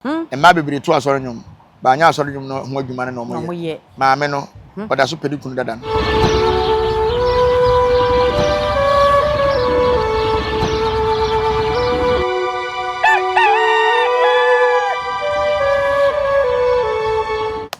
Mmaa bebree to asɔre nnwom, but anyɛ asɔre nnwom no ho adwuma no na wɔyɛ. Maame no, ɔda so pɛ ne kunu dada no.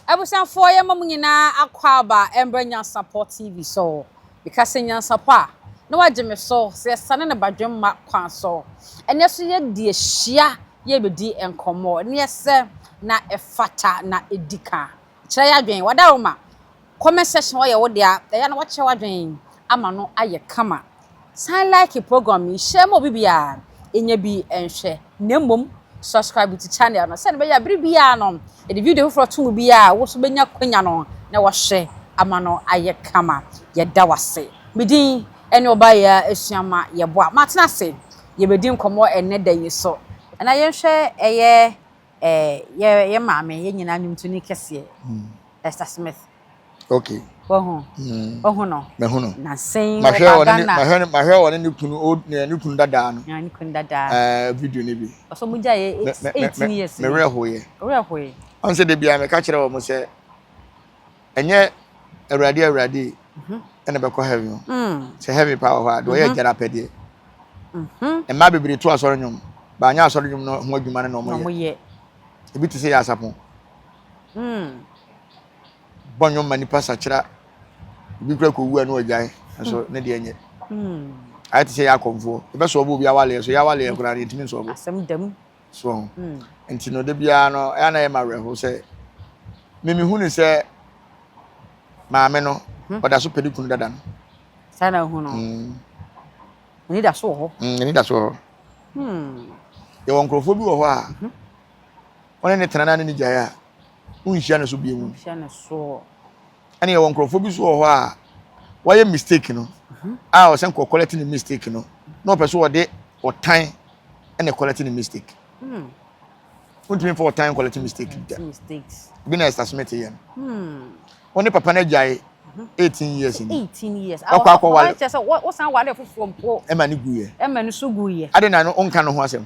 Abusuafoɔ yɛma mo nyinaa akɔ aba mbrɛ Nyansapɔ TV so. Meka sɛ Nyansapɔ a, na wagye me so sɛ yɛsane no badwemma kwan so. Ɛnɛ so yɛde ahyia yɛrebɛdi nkɔmmɔ no yɛ sɛ na ɛfata na ɛdi ka. Kyerɛ y'adwene. Wada wo ma comment section hɔ yɛ wo dea. Ɛyɛ a na woakyerɛ w'adwene ama no ayɛ kama. San like program yi, share ma obi biara nyɛ bi nhwɛ na mmom subscribe to channel no sɛdeɛ ɛbɛyɛ a bere biara no yɛde video foforɔ to mu biara a wo nso bɛnya kwanya no na wahwɛ ama no ayɛ kama. Yɛda w'ase. Me din ɛne Ɔbaayɛ Asuama Yɛboa. Matena ase yɛbɛdi nkɔmmɔ ɛnnɛ da yi so. Na yɛnhwɛ ɛyɛ eh yɛ maame yɛn nyinaa nnwomtoni kɛseɛ Esther Smith. Okay. Wahu? Mm. Wahu no? Mahu no. Na sɛn mahwɛ ɔba Ghana. Mahwɛ ne mahwɛ ɔne ne kunu o ne kunu dadaa no. Ne kunu dadaa. Ɛɛ eh, video ne bi. Ɔsɔ mu gya yɛ eighteen years. Mɛ mɛ mɛ mɛ werɛ hoyɛ. Werɛ hoyɛ. Ɔn sɛ de bia mɛ ka kyerɛ wɔn sɛ. ɛnyɛ awurade awurade mhm. ɛna bɛkɔ heaven o mm. sɛ heaven paa wɔ hɔ a deɛ ɔyɛ mhm. gyara pɛdeɛ mhm. mmaa bebree to asɔre nnwom baanyɛ asɔre nnwom no ho adwuma no na wɔyɛ ebi te sɛ yɛ asapon mm. bɔ nnwom ma nipa sakyera ebi kura kɔ wu a na ɔgyae nso mm. ne deɛ nyɛ ayɛ te sɛ yɛ akɔmfoɔ ɛbɛsɔ ɔbɔ obi awaleɛ so yɛ awaleɛ koraa ne ntumi nsɔ ɔbɔ asɛm dɛm So nti no da biara no ɛyɛ na ɛyɛ ma awerɛhow sɛ mimi hu ne sɛ maame no hmm. ɔda so pɛ ne kunu dada no. saa na hu no hmm. ani da so wɔ hɔ. Hmm, ani da so wɔ hɔ. yɛwɔ nkurɔfoɔ bi wɔ hɔ a mhm. wɔne ne tena na ne ne gyae a wonhyia ne so bio mu. Ɛna yɛwɔ nkurɔfoɔ bi so wɔ hɔ a wɔayɛ mistake no a ɔsɛ nkɔ kɔlɛte ne mistake no na ɔpɛ so ɔde ɔtan ɛna kɔlɛte ne mistake hmm. wontumi mfa ɔtan kɔlɛte mistake hmm, da bi na ɛsta smith yɛ no ɔne hmm. papa no agyae mhm. eighteen years ni ɔkɔ akɔ wale ɛma ne guyɛ ɛma ne so guyɛ ade na no ɔnka no ho asɛm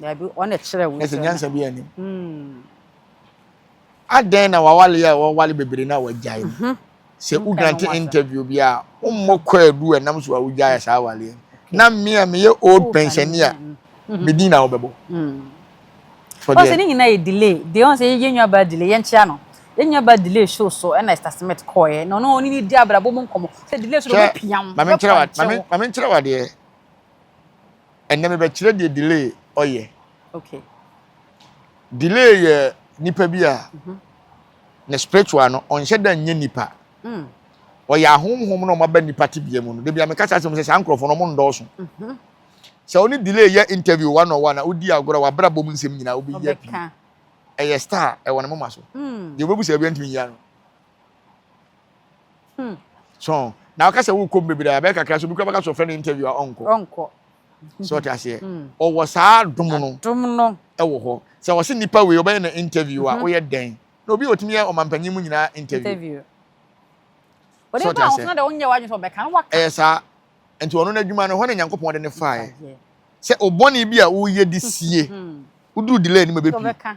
Dabi, ɔna kyerɛ wo nsɛm. Nyansa bi anim. Hmm. Adɛn na wawale a wawale bebree na wagyae no. Mhm. Sɛ wo grant interview bi a, wommɔ kwaadu a nam so a wogyae saa awale. Na me a meyɛ old pensioner mhm. me din na wobɛbɔ. Hmm. Ɔsɛ ne nyinaa yɛ delay. Deɛ ɔn sɛ yɛn nua baa delay yɛn kyea no. Yɛn nua baa delay show so ɛna Esther Smith kɔɛ. Na ɔno ɔne ne di abrabɔ mu nkɔmɔ. Sɛ delay so de ɔbɛpiam. Mame nkyerɛ wa deɛ. Ɛnɛ me bɛkyerɛ deɛ delay ɔyɛ. Okay. Delay yɛ nipa bi a mm -hmm. ne spiritual no ɔnhyɛ da nyɛ nipa. Mm. Ɔyɛ ahomhom na ɔma ba nipa tebea mu no. Debi a meka saa sɛ mo sɛ saa nkurɔfoɔ no ɔmo ndɔɔso. Mm -hmm. Sɛ ɔne delay yɛ interview one on one a wodi agorɔ wabra bom nsɛm nyinaa wobɛyɛ pii. Ɛyɛ star ɛwɔ ne moma so. Mm. Deɛ wobɛbu sɛ ɛbia ntumi nyia no. Hmm. So na ɔka sɛ wokɔ mu bebree abɛyɛ kakra so obi kura bɛka so ɔfrɛ no interview a ɔnkɔ. Ɔnkɔ. So ɔte aseɛ. Hmm. Ɔwɔ saa dom no. Dom no. Ɛwɔ hɔ. Sɛ ɔsi nipa wei ɔbɛyɛ na interview a ɔyɛ mhm. dɛn. Na obi otumi yɛ ɔmanpanyin mu nyinaa interview. Interview. Ɔde ba ahosuo na de ɔnyɛ wadwene sɛ ɔbɛka no waka. Ɛyɛ saa. Nti ɔno n'adwuma no hɔ na Nyankopɔn de ne faeɛ. Sɛ ɔbɔne bi a woyɛ de sie. Woduru delay anim a bɛpie.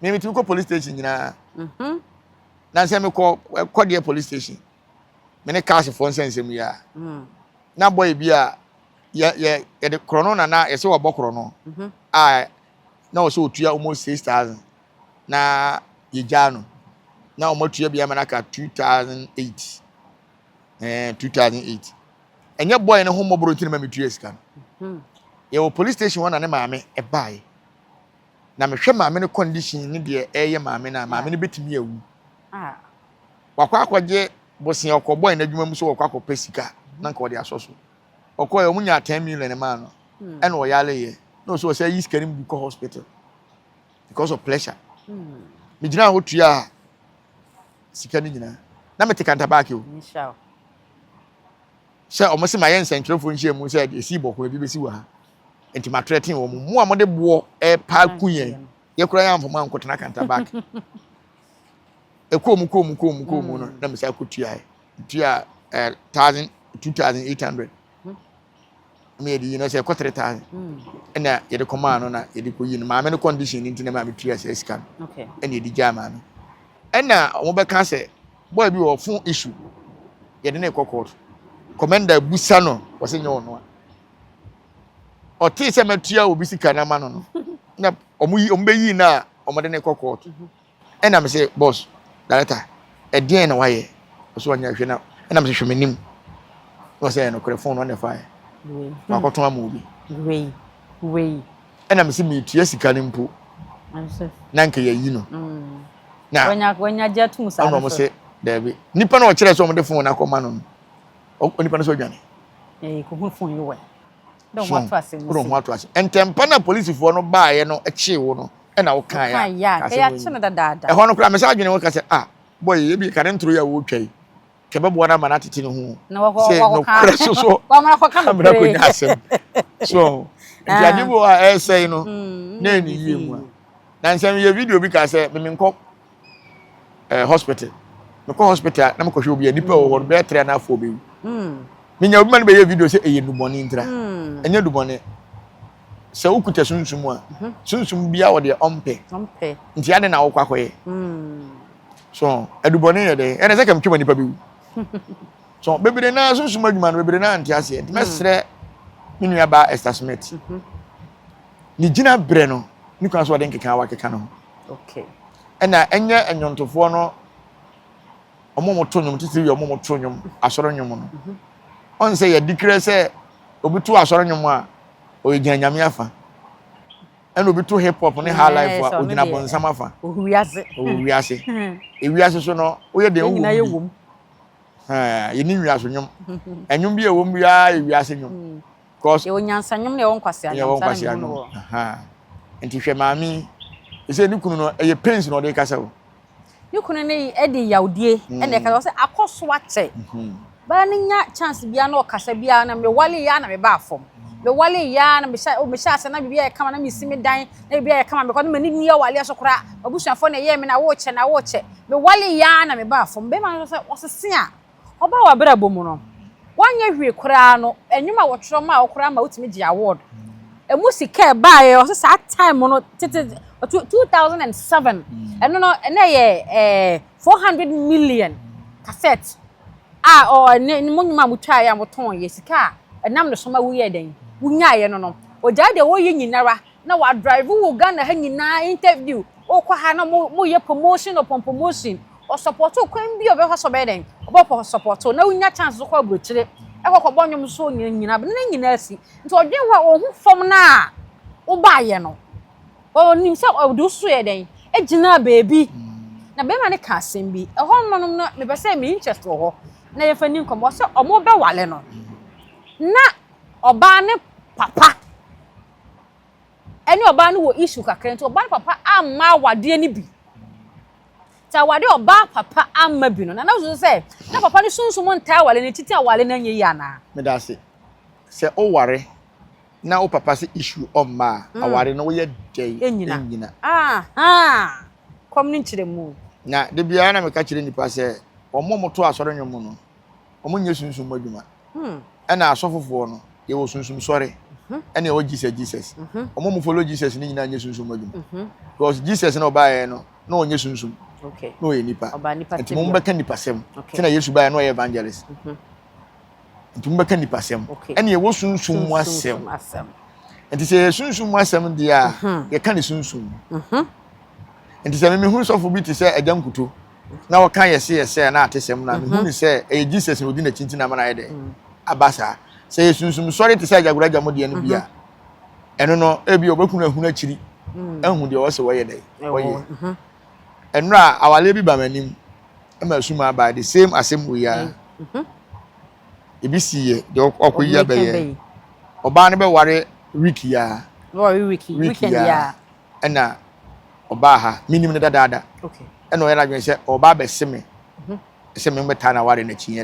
Me me tumi kɔ police station nyinaa. Mhm. Na sɛ me kɔ kɔ deɛ police station. Me ne cars fɔ nsɛ nsɛm yi a. Mm. Na boy bi a yɛ yɛ yɛ de korɔ no na na yɛ sɛ wɔ bɔ korɔ no. Mhm. A na wɔ sɛ otua almost six thousand. Na yɛ gyaa no. Na wɔn atua bi ama n'aka two thousand eight. Ɛɛ eh, two thousand eight. Ɛnyɛ boy ne ho mmɔboro nti na ma me tua sika no. Mhm. Yɛ wɔ police station hɔ na ne maame ɛbaaye. Na mehwɛ maame no condition ne deɛ ɛreyɛ maame no a, maame no bɛtumi awu. Wakɔ akɔgye bosea ɔkɔbɔe n'adwuma mu sɛ wɔkɔ akɔpɛ sika na nka ɔde asɔ so. Ɔkɔɛ ɔmo nyaa 10 million maa no ɛna ɔyareeɛ na ɔsɛ ɔsɛ ayi sika no mu bi kɔ hospital because of pressure. Megyinaa hɔ tuaa sika no nyinaa na mete kantabaake o. Sɛ ɔmo se mayɛ nsɛntwerɛfoɔ nhyiamu sɛ ɛde esi bɔkɔ ebi bɛsi wɔ ha. Enti ma threaten wɔn mu a mode boɔ ɛpa ku yɛn. Yɛ kura yɛn amfa mu anko tena kanta back. Ɛkɔɔ mu kɔɔ mu kɔɔ mu kɔɔ mu no na mesa kɔ tuaɛ. Tua eh, thousand, two thousand eight hundred. Ɛna yɛde yi no sɛ ɛkɔ three thousand. Ɛna yɛde kɔmaa no na yɛde kɔ yi no. Maame no condition no nti na maame tua sɛ sika no. Ɛna yɛde gyaa maame. Ɛna wɔbɛka sɛ boy bi wɔ phone issue. Yɛde no kɔ court. Commander busa no wɔsɛ nyɛ ɔnoa. ɔtee sɛ matua obi sika na ma no no na ɔmo yi ɔmo bɛyi no a ɔmo de ne kɔ court ɛna me sɛ boss director ɛdeɛn na wayɛ ɔsɛ ɔnyɛ hwɛ na ɛna me sɛ hwɛ m'anim na ɔsɛ ɛyɛ nokorɛ fon no ɔna ɛfaeɛ wakɔtɔn ama obi ɛna me sɛ metua sika no mpo na nka yɛyi no mm. na ɔna ɔmo sɛ daabi nipa na ɔkyerɛ sɛ ɔmo de fon no akɔma no no onipa no sɛ ɔdwane eh, ko ho fun yi wɛ dɛ ho ato ase mu ho ato ase ntɛmpa na polisifoɔ no baayɛ no kyee wo no ɛna wo kan ya kase ya kye no dadaada ɛhɔ no koraa mɛsɛ adwene wo kasɛ ah boy ebi kare ntoro yɛ wo twa yi kɛbɛ boa na ma na tete ne ho sɛ no kora so so amena ko nya asɛm so nti ade bi wɔ a ɛsɛe no na ɛne yie mu a na nsɛm yɛ video bi ka sɛ memenkɔ ɛɛ hospital mekɔ hospital na mekɔhwɛ obi a nipa wɔ hɔ no bɛyɛ three and half four bɛwu menya obi ma no bɛyɛ video sɛ ɛyɛ nnubɔne ntira ɛnyɛ nnubɔne sɛ wokuta sunsum a sunsum bia wɔ deɛ ɔmpɛ nti ade na wokɔ akɔyɛ so adubɔne yɛ dɛ ɛne sɛ kamtwama nipa bɛwu so bebree naa sunsum adwuma no bebree naa nte aseɛ nti mɛsrɛ me nua baa Esther Smith Ne gyinabrɛ no ne kwan so ɔde nkeka wakeka no ho. Okay. Ɛna ɛnyɛ nnwontofoɔ no ɔmo mo to nnwom titiri yɛ ɔmo mo to nnwom asɔre nnwom no. Mhm. Ɔn sɛ yɛde kira sɛ obi to asɔre nnwom a ɔyɛ gyina nyame afa. Ɛna obi to hip hop ne high mm, life a ogyina bɔnsam afa. Ohu wiase. Ohu wiase. Hmm. Ewiase so no woyɛ deɛ owu bi. Yɛni wiase nnwom. Nnwom bi a ɛwɔ mu biara yɛ wiase nnwom. Hmm. Yɛwɔ nyansa nnwom na yɛwɔ nkwasea nnwom. Saa na mehu no wɔ. Nti hwɛ maame yi. Ɛsɛ ne kunu no ɛyɛ pains na ɔde kasa o. Ne kunu no ɛde yawdie ɛna ɛkasa ɔsɛ akɔ so akyɛ. Baa no nya chance biara na ɔkasa biara na me wale yɛ a na me ba afam. Me wale yɛ a na me hyɛ me hyɛ ase na biribi ayɛ kama na me si me dan na biribi ayɛ kama because na m'ani nni awale so koraa. M'abusuafoɔ na ɛyɛɛ me na wokyɛ na wokyɛ. Me wale yɛ a na me ba afam. Bɛɛma no nso sɛ ɔsese a. Ɔbaa w'abrabɔ mu no, woanyɛ hwee koraa no, nnwom a wɔtwerɛ maa wo koraa ma wotumi gyee award. Ɛmu sika a ɛbaeɛ, wɔse saa time no, tete, two thousand and seven, ɛno no, na ɛyɛ ɛɛ four hundred million cassette a ɔ ne mo nnwom a motwaeɛ a motɔeɛ, sika a ɛnam ne so ma woyɛɛ dɛn? Wonyaaeɛ no no, ɔgyae deɛ ɔreyɛ nyinara. na wa drive wo Ghana ha nyinaa interview wokɔ ha na mo yɛ promotion upon promotion ɔ support wo kwan bi a ɔbɛfa so ɔbɛyɛ dɛn ɔbɛkɔ support wo na wonya chance so kɔ aburokyire ɛkɔ kɔ bɔ nnwom so nyina nyina bɛ ne nyinaa si nti ɔdwen hɔ a ɔhu fam no a wobaayɛ no ɔnim sɛ ɔde wo so yɛ dɛn agyina baabi na bɛrima no ka asɛm bi ɛhɔ nom nom no mepɛ sɛ me interest wɔ hɔ na yɛfa ni nkɔmmɔ sɛ ɔmo bɛwale no na ɔbaa ne papa ɛne ɔbaa no wɔ issue kakra nti ɔbaa no papa amma awadeɛ no bi nti awadeɛ ɔbaa papa amma bi no na na so sɛ na papa no sunsum ntaa awale no titi awale no anyɛ yi anaa. meda ase sɛ oware na wo papa sɛ issue ɔmma a mm. aware no woyɛ dɛn ɛnyina ɛnyina ahaa kɔm no nkyerɛ mu na da biara na meka kyerɛ nnipa sɛ wɔn a wɔto asɔre nnwom no wɔn nyɛ sunsum mu adwuma ɛna asɔfo foɔ no yɛwɔ sunsum sɔre ɛna ɛwɔ Jesus Jesus wɔn mu follow Jesus ne nyinaa nyɛ sunsum mu adwuma because Jesus na ɔbaeɛ no na ɔnyɛ sunsum na ɔyɛ nipa nti mo bɛka nipa sɛm sɛ na Yesu baeɛ na ɔyɛ evangelist nti mo bɛka nipa sɛm ɛna ɛwɔ sunsum mu asɛm nti sɛ yɛ sunsum mu asɛm deɛ a yɛka ne sunsum nti sɛ mimi hu sɔfo bi te sɛ ɛgya nkuto na ɔka yɛse yɛsɛe a na atesɛm no a mehu no sɛ ɛyɛ Jesus na ɔdi n'akyi nti na ama no ayɛ dɛn aba saa sɛ yɛ sunsum sɔre te sɛ agyagoragya mu deɛ no bi a ɛno no ebi ɔbɛkunu ahunu akyiri ahu deɛ ɔwɔ sɛ wɔyɛ dɛn wɔyɛ ɛnora a awaleɛ bi ba m'anim ɛma asum aba the same asɛm wei a ebi si yɛ deɛ ɔkɔ yi abɛyɛ ɔbaa no bɛware wiki ya wiki ya ɛna ɔbaa ha menim no dadaada ɛna ɔyɛ n'adwene sɛ ɔba abɛse me mhm. sɛ memmɛtaa no aware no akyi yɛ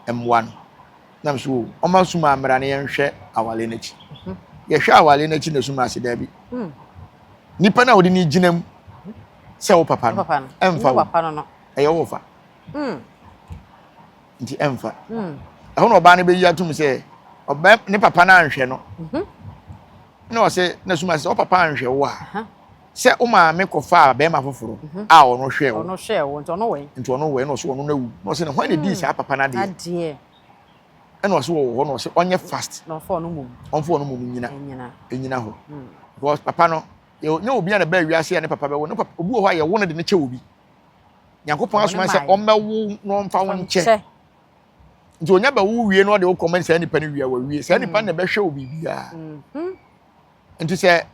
dɛ mmoa no nam so o ɔma suma mmara no yɛnhwɛ awale no akyi mhm. yɛhwɛ awale no akyi na suma ase daabi hmm. nipa no a wɔde no gyina mu mhm. sɛ wo papa no ɛmfa wo ɛyɛ wo fa hmm. nti ɛmfa. Hmm. Ɛhɔ na ɔbaa no bɛyi atom sɛ ɔbɛ ne papa no anhwɛ no. Mhm. Na ɔsɛ na suma sɛ ɔpapa anhwɛ wo a sɛ wo maame kɔfaa bɛrima foforɔ mhm. a ɔno hwɛ wo. Ɔno hwɛ wo nti ɔno wɛn. Nti ɔno wɛn na ɔsɛ ɔno na wu. Na ɔsɛ na hwan na di hmm. saa papa no adeɛ. Adeɛ. Ɛna ɔsɛ wɔ hɔ na ɔsɛ ɔnyɛ fast. Na ɔfɔ ɔno mom. Ɔnfɔ ɔno mom nyina. Nyina. Nyina hɔ. Hmm. Because papa no yɛ nyɛ obi a na bɛɛ wiase a ne papa bɛwo ne papa obi wɔ hɔ a yɛwo no de ne kyɛ obi. nyankopɔn asoma sɛ ɔmmɛwo na ɔmfa wo nkyɛ nti onya bɛwo wie na ɔde wo kɔma saa nipa no wie a wawie saa nipa no na ɛbɛhwɛ wo biribiara mhm. nti sɛ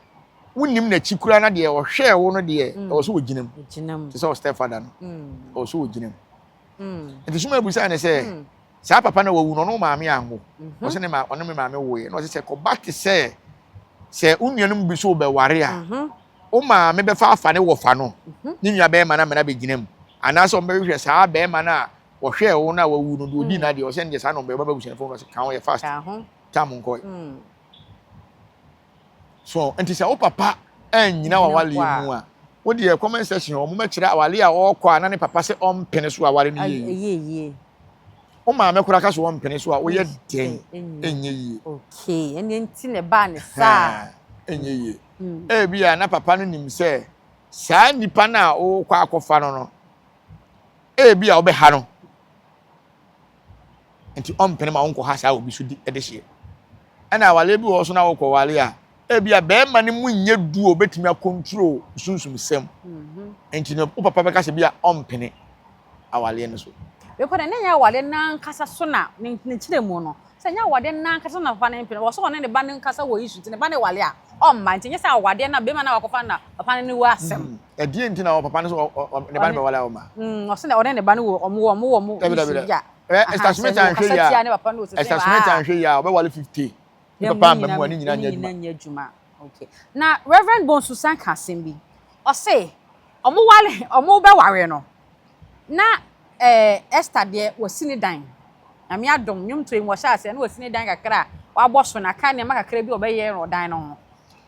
wonim n'akyi koraa na deɛ ɔhwɛɛ wo no deɛ mm. ɛwɔ so wɔgyina mu te sɛ ɔstɛfada no mm. ɛwɔ so wɔgyina mu mm. nti soma abusaa ne sɛ Saa papa no wawu na ɔno maame anwo. Mm-hmm. Ɔsɛ ne ma ɔne me maame woeɛ na ɔsɛ sɛ kɔba te sɛ sɛ wo nuanom bi so wobɛware a mm-hmm. wo maame bɛfa afa ne wɔfa no mm-hmm. ne nua bɛrima no amena bɛgyina mu anaasɛ ɔmbɛhwehwɛ saa bɛrima no a wɔhwɛɛ wo no a wawu no de ɔdi mm. no adeɛ ɔsɛ ne deɛ saa na ɔmbɛyɛ ɔbɛba busuafoɔ no ɔsɛ ka ho yɛ fast tam nkɔe mm. So nti sɛ wo papa annyina w'aware mu a, wo deɛ comment section hɔ mobɛkyerɛ aware a ɔrekɔ a na ne papa sɛ ɔmpene so aware no yie yie. Wo maame koraa ka sɛ ɔmpene so a woyɛ dɛn? Ɛnyɛ yie. Okay, ɛnneɛ nti na ɛbaa ne saa. Ɛnyɛ yie. Ebi a na papa no nim sɛ saa nipa no a wokɔ akɔfa no no, ebi a wobɛha no. nti ɔmpene ma wonkɔha saa obi so di de hyeɛ. Ɛna awareɛ bi wɔ hɔ so na wokɔware a, ebi a bɛrima no mu nyɛ du a obɛtumi akontrol sunsum sɛm. Mhm. Nti no wo papa bɛka sɛ bi a ɔmpene awareɛ no so. Bɛkɔ dɛ, na ɛnyɛ awareɛ no ankasa so na ne nkyerɛ mu no. Sɛ ɛnyɛ awareɛ no ankasa so na papa no mpene, wɔ so ɔne ne ba no nkasa wɔ issue nti ne ba no ware a ɔmma. Nti ɛnyɛ sɛ awareɛ no a bɛrima no a wakɔfa no na papa no ne wɔ asɛm. Mhm. Ɛdeɛn nti na ɔ papa no sɛ ɔ ɔ ne ba no bɛwale a ɔma? Mm, ɔse na ɔne ne ba no wɔ ɔmo wɔ ɔmo wɔ ɔmo Dabi dabi da. Ɛ Esther Smith anhwɛ yie a, Esther Smith anhwɛ yie a ɔbɛwale fifty. Ne papa amma mu a ne nyina nyɛ adwuma. nyɛ adwuma. Okay. Na Rev. Bonsu san ka asɛm bi. Ɔse ɔmo wale ɔmo bɛware no na ɛɛ Esther deɛ wasi ne dan. Nyame adom, nnwomtoɔ yi mu ɔhyɛ aseɛ na wasi ne dan kakra a wabɔ so na aka nneɛma kakra bi a ɔbɛyɛ wɔ dan no ho.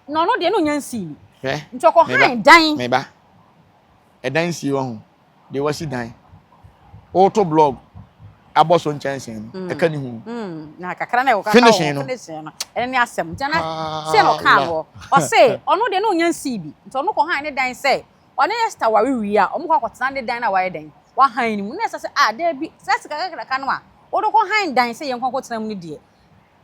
Na ɔno deɛ na ɔnya nsii bi. Hwɛ, Nti me ba, ɔkɔhan dan. me ba, ɛdan sie wahu, deɛ wasi dan, woto blɔg abɔ so nkyɛnsee no, ɛka ne ho. Na kakra na ɛwɔ kakra wɔ Finishing no. finishing no, ɛno ne asɛm. Nti na sei na ɔkaa no hɔ. Ɔse ɔno deɛ na ɔnya nsii bi. Nti ɔno kɔhan ne dan sɛ ɔne Esther ware wie a, wɔkɔ akɔtena ne dan no a wayɛ dɛn? Wahan no mu. Na Esther se, ah, daabi, saa sika kakraka no a wode kɔhan dan sɛ yɛnkɔ nkɔtena mu no deɛ,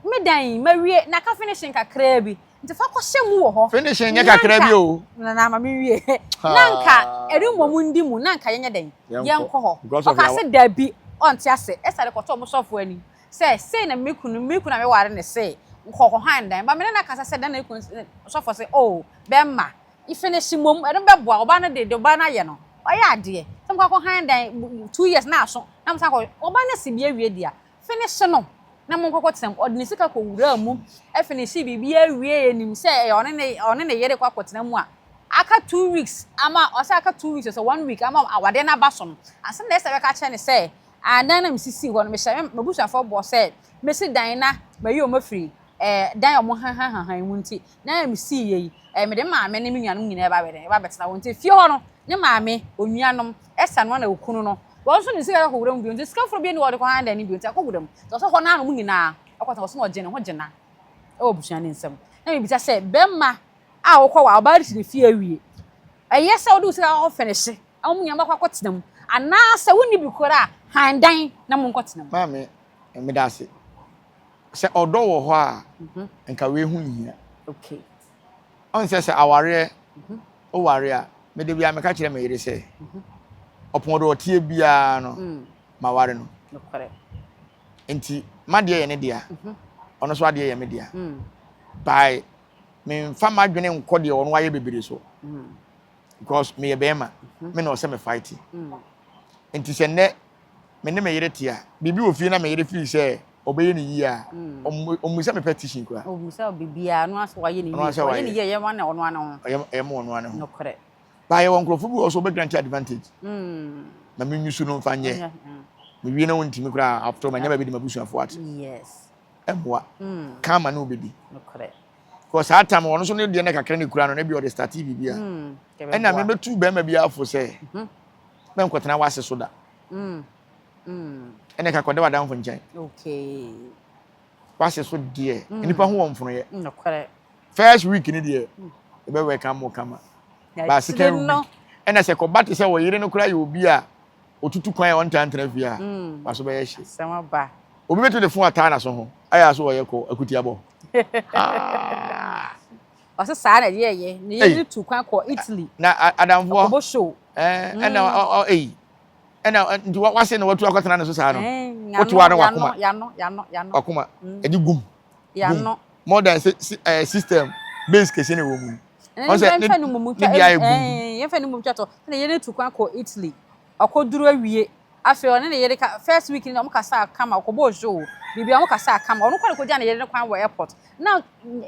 Me dan yi, mawie, na ka finishing kakraa bi. Nti fa kɔhyɛ mu wɔ hɔ. Finishing nyɛ kakraa bi o. Na na ma menwie. Na anka ɛremmɔ mu ndi mu, na anka yɛnyɛ dɛn? Yɛnkɔ hɔ. Ɔkaa sɛ, Dabi, ɔnte ase. Ester de kɔtɔɔ mo sɔfoɔ anim sɛ, Sei na me kunu, me kunu a meware no sei, kɔ kɔhan dan. But me ne no akasa sɛ dɛn na ne kunu se, Sɔfoɔ se, Oh, bɛmma, finish mmom, ɛno bɛboa, ɔbaa no de, deɛ ɔbaa no ayɛ no, wayɛ adeɛ. Sɛ mokɔ akɔhan dan, two years na aso, na mosan kɔ, ɔbaa no asi bi awie deɛ a, Afe no so no, na mo nkɔkɔtenam. Ɔde ne sika kɔwuraa mu. Afei na ɛsii biribiara wieeɛ, ɛnim sɛ ɛyɛ ɔne ne, ɔne ne yere rekɔ akɔtena mu a, aka two weeks ama, ɔsɛ aka two weeks, ɔsɛ one week ama awadeɛ no aba so no, ansa na Esther bɛka akyerɛ no sɛ, Ah, dan no a mesisii hɔ no, mehyɛ me, m'abusuafoɔ bɔ sɛ mɛsi dan na mayi wɔn afiri ɛɛ dan a wɔn hahanhahan mu nti, na misii yei, ɛɛ, mede me maame ne me nuanom nyinaa ba bɛ dɛn, ba bɛtena hɔ. Nti fie hɔ no, ne maame, onuanom, ɛsa no ara na okunu no, wɔn nso de sika kɔ akɔwura mu bio. Nti sika foforo biara nni hɔ a wɔde kɔ Handa no bio, nti akɔwura mu. Nti ɔsɛ hɔ no ara na wɔn nyinaa kɔtena hɔ, ɔsɛ na ɔgye ne ho gyina wɔ abusua no nsam. Na mibisa sɛ, Bɛrima a wokɔ wɔ ɔbaa ti ne fie awie, ɛyɛ sɛ wode wo sika kɔ fɛnihye ama mo nyinaa moakɔ akɔtena mu, anaasɛ wonni bi koraa a, han dan na monkɔtena mu? Maame, Meda ase. Sɛ ɔdɔ wɔ hɔ a, nka wei ho nhia. Ɔn sɛ sɛ awareɛ woware a, mede bia meka kyerɛ me yere sɛ, ɔpɔn do ɔteɛ biara no, ma ware no. Nti m'adeɛ yɛ ne dea, ɔno nso adeɛ yɛ me dea. By me nfa m'adwene nkɔ deɛ ɔno ayɛ bebree so. Because meyɛ bɛrima, me na ɔsɛ me fight. Nti sɛ nnɛ me ne me yere te a, biribi wɔ fie na me yere feel sɛ ɔbɛyɛ ne yie a, ɔmmisa me petition koraa. Ɔmmisa wo biribiara, ɔno ara sɛ wayɛ ne yie. Sɛ ɔyɛ ne yie a, ɛyɛ ma ɔno ara ne ho. Ɛyɛ ma ɔno ara ne ho. Nokorɛ. Baa yɛwɔ nkurɔfoɔ bi wɔ hɔ nso wɔbɛgrante advantage ma menyusu no mfa nyɛ. Mewie na wɔntumi koraa, after all manya baabi de m'abusuafoɔ ate. Yes. Ɛmmoa. Karma ne wobɛdi. Nokorɛ. Because saa time ɔno nso ne deɛ na kakra na ɛkura no na ebia ɔde startee biribi a, ɛnna mebɛtu barima biara fo sɛ, Mɛnkɔtena w'ase so da. Ɛnna ɛka kɔda w'adamfo nkyɛn. W'ase so deɛ, nnipa ho wɔ mfonoyɛ. First week ni deɛ, ɛbɛ wɛ ka mo kama. Ba second week, ɛnna sɛ kɔba te sɛ ɔyere no koraa yɛ obi a otutu kwan a ɔntaa ntena fie a, w'aso bɛyɛ hye. Obi bɛtumi de fon ataa n'aso ho ayɛ aso ɔyɛ kɔ akutiabɔ. Ɔsɛ saa na ɛyɛ yɛ na yɛ de tu kwan kɔ Italy. Na adamfoɔ. Ɔkɔbɔ show. Ɛɛ ɛna ɔ ɔ eyi. Ɛna nti wa wase na watu akɔtena ne so saa no. Ɛɛ wotu ano wakoma. Yano yano yano. Wakoma. Ɛdi gum. Yano. More than si si ɛɛ system base kɛse na ɛwɔ mu. Ɛɛ yɛn fɛn no mu mu twa ɛɛ yɛn fɛn no mu twa tɔ ɛna yɛ de tu kwan kɔ Italy. Ɔkɔduru awie, afei ɔne ne yere ka, first week no deɛ wɔkasaa kama, ɔkɔbɔɔ show, biribiara wɔkasaa kama, ɔno kɔɔ na kɔgyaa ne yere no kwan wɔ airport, na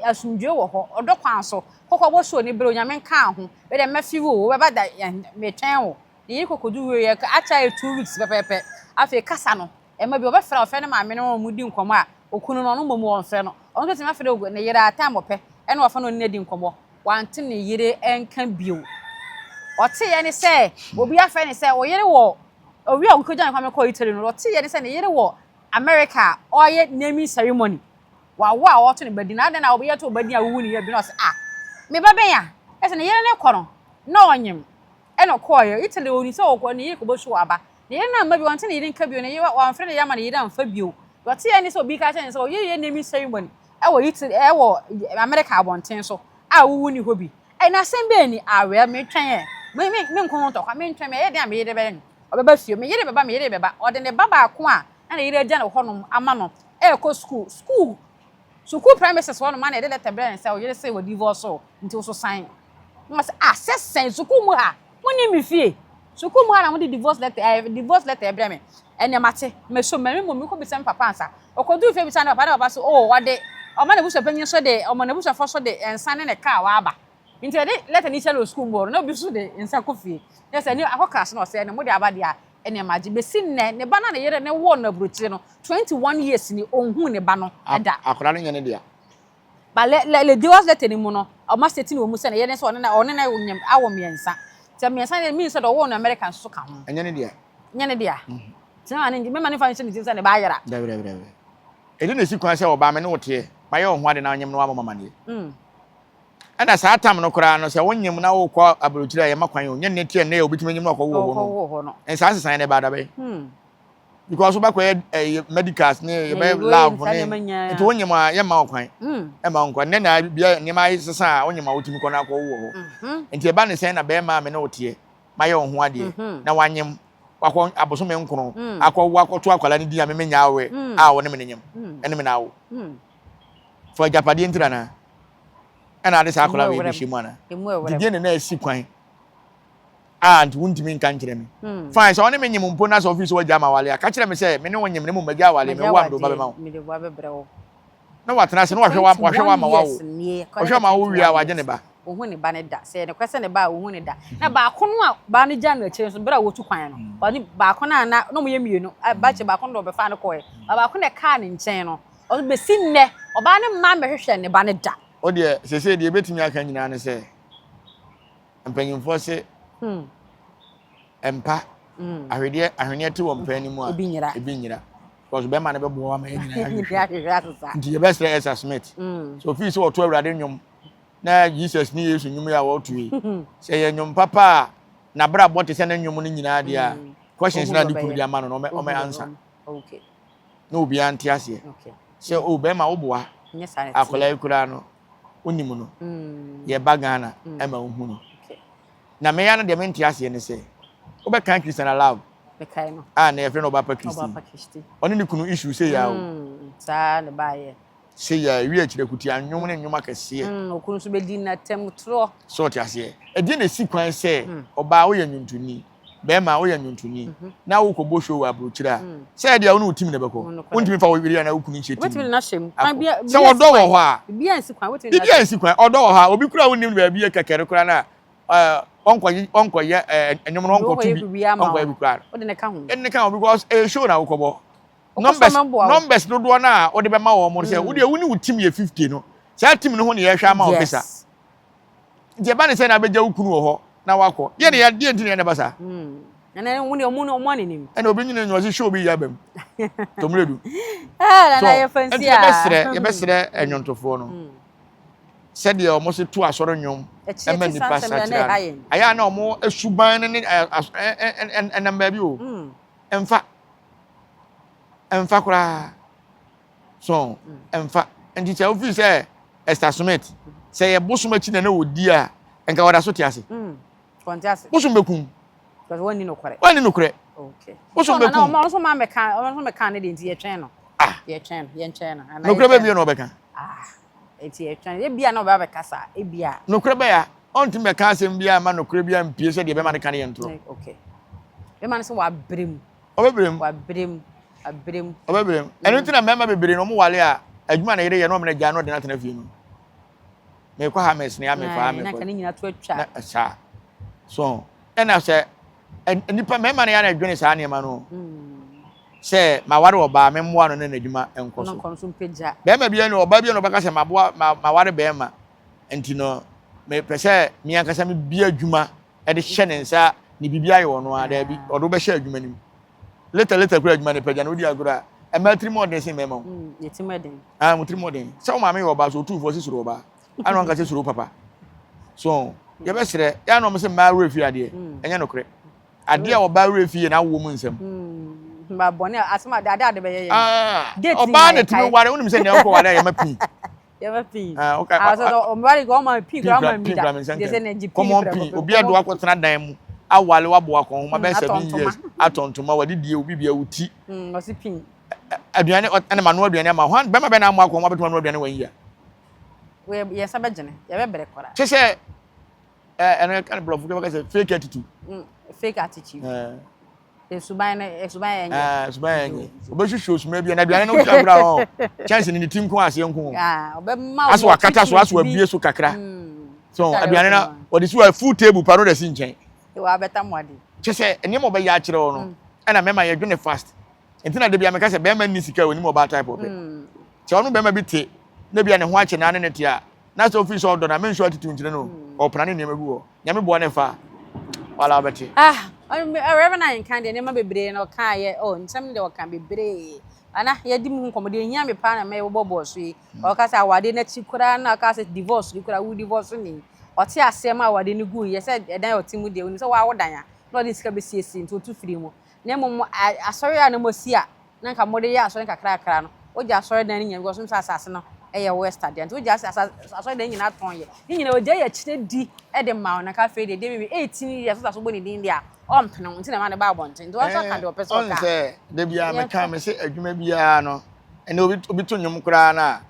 asomdwoeɛ wɔ hɔ, ɔdɔ kwan so, kɔ kɔbɔ show no brɛ Onyame nkaa ho, me deɛ mɛfe wo o, wobɛba da, yɛn, metwɛn wo, ne yere kɔ kɔduru wieɛ, akyɛre two weeks pɛpɛɛpɛ, afei kasa no, Ɛma bi ɔbɛfrɛ ɔfrɛ ne maame no ma wɔn di nkɔmmɔ a okunu no ɔno mmom ɔnfrɛ no. Ɔno nso tumi frɛ ne yere a time ɔpɛ na wafa ne ɔne no adi nkɔmmɔ. Wante ne yere nka bio. Ɔteeɛ ne sɛ obi afrɛ ne sɛ ɔyere wɔ owi a wokogya ne kwame kɔɔ Italy no ɔteeɛ ne sɛ ne yere wɔ America a ɔreyɛ naming ceremony wawo a ɔreto ne ba din na adɛn na ɔbɛyɛ to ɔba din a wowu ne yere bi na ɔse ah me ba bɛn a ɛsɛ ne yere no kɔ no na ɔnyem Ɛna ɔkɔeɛ Italy ɔnii sɛ ɔkɔ ne yere kɔbɔ su aba ne yere no amma bio ɔnte ne yere nka bio ne yere wamfrɛ ne yere amma ne yere amfa bio deɛ ɔteɛ ne sɛ obi ka kyerɛ ne sɛ ɔyere reyɛ naming ceremony ɛwɔ Italy ɛwɔ America abɔnten so a wowu nni hɔ bi ɛɛ na asɛm bɛn ni ah well metwɛn ɛ me me me nko ho ntɔkwa mentwɛn me ɛyɛ dɛn a me yere bɛyɛ no ɔbɛba fie me yere bɛba me yere bɛba ɔde ne ba baako a na ne yere agya no hɔnom ama no ɛrekɔ school school Sukuu premises hɔ nom a na yɛde lɛtɛ brɛ no sɛ wo yere se w'adivɔɔse wo nti wo so san. Na wɔse ah sɛ sɛn, sukuu mu ha monim me fie, sukuu mu ha na mode divorce lɛtɛ eh divorce lɛtɛ brɛ me, ɛneɛ mate, mɛsom, mɛwe mmom mekɔ bisa me papa ansa. Ɔkɔduu fie bisaa ne papa na papa se oh ɔde ɔma n'abusuapanyin nso de ɔma n'abusuafoɔ nso de nsa ne ne kaa waaba nti yɛde lɛtɛ no kyerɛ no wɔ sukuu mu hɔ no na obi nso de nsa kɔ fie na sɛ ɛneɛ akɔ class na ɔse ɛneɛ mode aba deɛ a nneɛma gye besi nnɛ ne ba no a ne yere no woo no aburokyire no twenty one years ni onhuu ne ba no da. Akwadaa no nyɛ ne dea. Ba le le le divorce letter no mu no ɔma stating wɔ mu sɛ ne yere no sɛ ɔne na ɔne na nyɛ awo mmiɛnsa sɛ mmiɛnsa no mean sɛ deɛ ɔwoo no America nso ka ho. Ɛnyɛ ne dea. Nyɛ ne dea. Sɛ ma ne ngye mɛma ne nfa nhyɛ ne tirim sɛ ne ba ayera. Dabi dabi dabi. Ɛde na esi kwan sɛ ɔbaa me ne wo teɛ mayɛ wo ho ade na anyem no wamɔ me amaneɛ. Ɛna saa tam no koraa no sɛ wonyim na wokɔ aburokyir a yɛma kwan o, nyɛ ne tsia nnɛ yɛ obi tumi enyim na ɔkɔwoo hɔ no, nsaa nsesaeɛ no ɛbaa dabɛn? Because wobɛkɔyɛ ɛyi medicals ne yɛbɛyɛ lab ne nti wonyim a yɛmma wo kwan ɛma nkɔ nnɛ na bia nneɛma asesa a wonyim a wotumi kɔ na akɔwo wɔ hɔ nti ɛba ne sɛn na bɛɛma a me ne wo teɛ mayɛ wo ho adeɛ na wanyim wakɔ abosome nkron akɔwo akɔto akwadaa no din a me menyaa wo ɛ a wo ne me ne nyim ɛne me na awo. For agyapadeɛ ntira anaa? Ɛna ade saa akwadaa wei bɛhyɛ mu anaa? Nti deɛ na na asi kwan a nti wontumi nka nkyerɛ me. Hmm. Fine sɛ ɔne me nyem mpo na sɛ ɔfiri sɛ wagya ma awale a ka kyerɛ me sɛ me ne wo nyem ne mu magya awale me wo amde woba bɛma wo. Na watena ase na wahwɛ wa wahwɛ wa ma wa wo. Ɔhwɛ ma wo wie a wagye ne ba. Ohun ne ba ne da sɛ ɛnokora sɛ ne ba a ohun ne da. Na baako no a baa no gya no akyire nso bere a wɔtu kwan no hmm. ɔne baako no a na na wɔyɛ mmienu bakyɛ baako no na ɔbɛfa no kɔɛ baako na ɛkaa ne nkyɛn no Ɔno bɛsi nnɛ, ɔbaa no mma mmɛhwehwɛɛ ne ba no da. Wo deɛ, seesei deɛ yɛbɛtumi aka nyinaa ne sɛ, mpanimfoɔ se mpa ahwedeɛ, ahweneɛ te wɔn pɛn no mu a, Ebi nyera. ebi nyera. Because bɛrima no bɛboa wo ama yɛn nyinaa yɛahwehwɛ. Ahwehwɛ asesa. Nti yɛbɛsrɛ Esther Smith sɛ ofii sɛ ɔto Awurade nnwom na Jesus ne Yesu nnwom yi a ɔreto yi, sɛ ɛyɛ nnwom papa a n'abrabɔ te sɛ ne nnwom no nyinaa deɛ a, questions no a ne kunu de ama no no, ɔmɛ, ɔmɛ answer. Okay. na obiara nte aseɛ sɛ o bɛrima wo boa akwadaa yi koraa no wonim no mm. yɛba ghana mm. ɛma wohu no na meya no deɛ mente aseɛ ne sɛ wobɛkan christian alaw a na yɛfrɛ no ɔbapa christi ɔne ne kunu issue sɛ yɛ o mm, Se ya awie akyiri akuti a, nnwom ne nnwom akɛseɛ. Mm, okunu nso bɛdi n'atam torɔ. So ɔte aseɛ? Ɛdeɛ na ɛsi kwan sɛ mm. ɔbaa woyɛ nnwontoni, bɛrima woyɛ nnwontoni, mm -hmm. na wokɔbɔ show wɔ aburokyire a, mm. sɛ ɛdeɛ wo ne wo tim na ɛbɛkɔ. Wontumi fa wo yere anaa wo kunu nhyɛ tim. Sɛ ɔdɔ wɔ hɔ a, biribi a nsi kwan, ɔdɔ wɔ hɔ a, obi kura wo nim no baabi yɛ kɛkɛre kura no a, eh, ɔnkɔyɛ ɔnkɔyɛ eh, ɛnwom no ɔnkɔto bi ɔnkɔyɛ bi kura no ɛne ka ho because ɛyɛ eh, show na wokɔbɔ numbers numbers dodoɔ no a wode bɛma wɔn no sɛ mm. wodeɛ wo ne wo tim yɛ fifty no saa tim no ho ne yɛhwɛ ama wo visa nti ɛba ne sɛ na abɛgya wo kunu wɔ hɔ na wakɔ deɛ ne deɛ nti ne ɛna ba saa ɛna wɔn ne wɔn ne wɔn anenim ɛna obi nyina nyina ɔsi show bi yaba mu tomire du ɛɛ nana yɛ fɛnsi a nti yɛbɛsrɛ yɛbɛsrɛ ɛnyɔntofoɔ no mm. sɛdeɛ wɔn si to asɔre nnwom ɛma nipa sakyera ayɛ a na wɔn suban ne ne ɛnam baabi o mm. ɛnfa. Ɛmfa koraa. So ɛmfa. Nti sɛ wofi sɛ Esther Smith sɛ yɛ bosom akyi na na odi a nka wɔda so te ase. Mm. Wɔnte ase. Bosom bɛkum. Because wɔnni nokorɛ. Wɔnni nokorɛ. Okay. Bosom bɛkum. So na wɔn nso ma mɛka wɔn nso mɛka ne deɛ nti yɛtwɛn no. Ah. Yɛtwɛn no yɛntwɛn no. Nokorɛ bɛ bie na ɔbɛka. Ah. Enti ɛtwɛn. Ebia na ɔbɛba abɛkasa, ebia. Nokorɛ bɛyɛ a, ɔrentumi bɛka asɛm biara mma nokorɛ biara mpue sɛ deɛ bɛma no ka no yɛ ntorɔ. Ɛ, okay. Bɛma no sɛ wabrɛ mu. Ɔbɛbrɛ mu. Wabrɛ mu. Abrɛ mu. Ɔbɛbrɛ mu. Ɛno nti na mmarima bebree no, wɔware a, adwuma a ne yere yɛ no, wɔn agyae no, wɔde no atena fie no. Mekɔ ha, mesene ha, mekɔ ha, mekɔ. Na anka ne nyinaa to atwa. Na, saa. So ho. ɛna sɛ nnipa mmarima no yɛ na ɛdwene saa nneɛma no sɛ maware ɔbaa me mmoa no ne n'adwuma nkɔ so bɛrima bi ne ɔbaa bi ne ɔbɛka sɛ maboa maware bɛrima nti no mepɛ sɛ me ankasa me bi adwuma de hyɛ ne nsa ne biribi ayɛ ɔno a daabi ɔde wobɛhyɛ adwuma no mu leta leta kura adwuma no pɛgya na wodi agorɔ a ɛma tirim ɔden sen mmarima wo tirim ɔden sɛ wo maame yɛ ɔbaa so ɔtumfoɔ si soro ɔbaa ana wanka sɛ suro papa so mm. yɛbɛsrɛ yɛ ana ɔmo sɛ mmaa werɛ fie adeɛ mm. ɛnyɛ nokorɛ adeɛ a ɔbaa werɛ fie yɛ na awoɔ mu nsɛm mba bɔne a asɛm a daadaa de bɛyɛ yɛ ah, ɔbaa na tumi ware wonim sɛ nea wokɔ ware a yɛma pii yɛma pii ɔmware kɔ ɔma pii kora ɔma mbi da de sɛ na gye pii kɔmɔ pii obi ado akɔtena dan mu awale waboa kɔn ho ma bɛyɛ seven years atɔntoma wɔde die obi bia wo ti ɔsi pii aduane ɛna ma no aduane ama hwan bɛma bɛna amoa kɔn ho abɛtuma no aduane wɔn yia Yɛn nsa bɛgyene, yɛbɛbrɛ koraa. Te sɛ ɛno ɛka no borɔfo kɛfɛ sɛ fake attitude. Mm, fake attitude. Esuban no esuban yɛn nyɛ. Esuban yɛn nyɛ. Obɛhwehwɛ osuma bi na aduane no kura kura hɔ. Kyɛnse ne ne ti nko aseɛ nko. Ɔbɛma wo. Aso akata so aso abie so kakra. So aduane na wɔde si wɔ full table pa no de si nkyɛn. Wa bɛta mo ade. Kyɛ sɛ nneɛma ɔbɛyɛ akyerɛ wo no ɛna mɛma yɛdwene fast. Nti na dabia meka sɛ bɛrima nni sika onim ɔbaa type ɔpɛ. Sɛ ɔno bɛrima bi te na bia ne ho akye naa ne ne te a na sɛ ofii sɛ ɔdɔ na menso attitude nkyerɛ no ɔpena ne nneɛma gu hɔ. Nyame boa no ɛfa a wala ɔbɛte. Ah Reverend Ayenkan deɛ nneɛma bebree na ɔka yɛ oh nsɛm no deɛ ɔka bebree ana yɛdi mu ho nkɔmmɔ deɛ ehia me paa na mɛyɛ wobɔ bɔɔso yi ɔka sɛ awadeɛ n'akyi koraa na ɔka sɛ divorce ni koraa wo divorce ni ɔte aseɛ ma awadeɛ no gu yɛ sɛ ɛdan ɔte mu deɛ onim sɛ wawo dan a na ɔde sika bɛsiesie nti ɔtu firi mu na mmom mo asɔre a na moasi a na nka mode yɛ asɔre nkakrakra no, wogye asɔredan no nyinaa because wonim sɛ asase no yɛ West adeɛ nti wogye asɔredan nyinaa tɔn yɛ ne nyinaa ogya yɛ akyire di de ma wɔn na ka afei deɛ deɛ bibi 18 years wosa so bɔ ne din deɛ a ɔmpene ho nti na ɛma ne ba abɔnten nti wɔn nso aka deɛ ɔpɛ sɛ ɔka sɛ da bi a meka me sɛ adwuma biara no ɛnna obi obi to nnwom koraa no a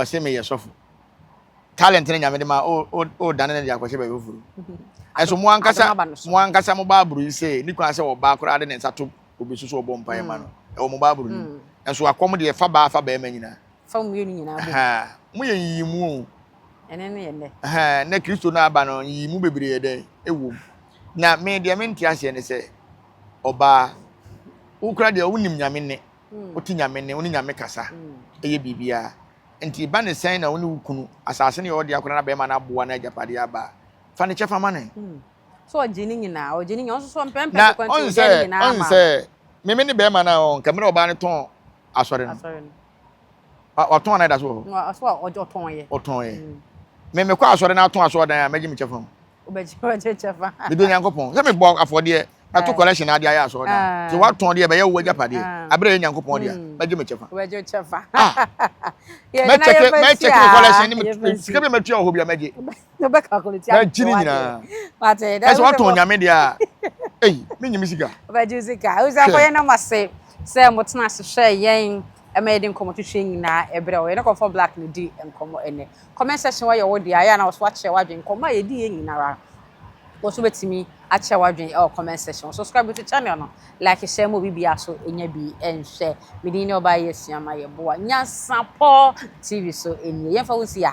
ɔsɛ meyɛ sɔfo. talent ne nyame de ma o o o dane ne de akɔhyɛ baabi foforo ɛso mo ankasa mo ankasa mo baaburo yi sɛ ne kura sɛ ɔbaa koraa de ne nsa to obi so so ɔbɔ mpaeɛ ma no mm. ɛwɔ mo baaburo no mm. ɛso akɔm deɛ fa baa fa bɛrima nyinaa fa mmienu nyinaa bɔ mo yɛ yiyi mu o ɛne ne yɛ nɛ ɛhɛn na kristo no aba no yiyi mu bebree yɛ dɛ ɛwɔ mu na me deɛ me nte aseɛ ne sɛ ɔbaa wokura deɛ wonim nyame ne mm. wote nyame ne wo ne nyame kasa ɛyɛ biribiara Enti ɛba ne sɛn na wo ne wo kunu, asase ne ɔde akɔda n'abɛɛma no aboa no agyapadeɛ aba a, fa ne kyɛfa ma no. Sɛ ɔgye ne nyinaa, ɔgye ne nyinaa, ɔno nso so ɔmpɛ mpɛ kɔkɔ nti ɔgyae ne nyinaa ma no. Na ɔn sɛ, me me ne bɛɛma no a ɔn, nka mmerɛ ɔbaa no tɔn asɔre no, watɔn anaa ɛda so wɔ hɔ? Ɔtɔn yɛ. Ɔtɔn yɛ. Me mekɔ asɔre na atɔn asɔɔdan a, mɛgye me kyɛfa mu. mede onyankopɔn sɛ mebɔ afɔdeɛ mato collection adeɛ ayɛ asɔre da sɛ ah. watɔn deɛ ɛbɛyɛ wo agyapadeɛ ah. aberɛ yɛ nyankopɔn deɛ hmm. mɛgye me kyɛfa mɛkyɛke me collection ne sika bi matua wɔ hɔ bia mɛgye mɛgye ne nyinaa ɛsɛ watɔn nyame deɛ a ei menye me sika sɛ motena ase hwɛ yɛn Ɛma yɛde nkɔmmɔtwetwe nyinaa ɛberɛ a yɛne Comfort Black no di nkɔmmɔ ɛnnɛ. Comment section hɔ yɛ wo dea, ɛyɛ a na wo nso woakyerɛ w'adwene. Nkɔmmɔ a yɛdiiɛ nyinara wo nso wobɛtumi akyerɛ w'adwene ɛwɔ comment section hɔ. Subscribe to channel no, like, share ma obi biara nso ɛnya bi nhwɛ. Me din ne Ɔbaa Yi Asuama Yɛboa Nyansapɔ TV so nie. Yɛmfa wo nsi a.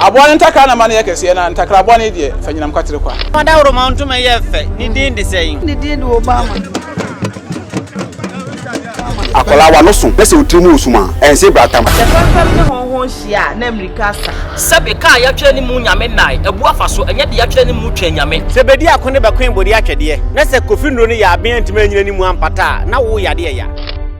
Aboa no ntakra na ma no yɛ kɛseɛ, na ntakra bɔne deɛ, fa nyinam kwatere kwa. Fa dawuroma ntoma yɛ fɛ, ne din de sɛn? Ne din de Obama. Akwadaa a w'ano so na sɛ wo tiri mu resum a, ɛnsɛ bratam. Sɛ fɛmfɛm ne hɔnhɔn hyia a, na mmirika asa. Sɛbe kaa a yɛatwerɛ ne mu Nyame nnae, abu afa so, ɛnyɛ deɛ yɛatwerɛ ne mu Twɛn Nyame. Sɛ bɛdi ako ne bɛkoe bode atwɛdeɛ, na sɛ Kofi Nnuro ne Yaa Bee antumi annyina ne mu ampata a, na wo yadeɛ ya.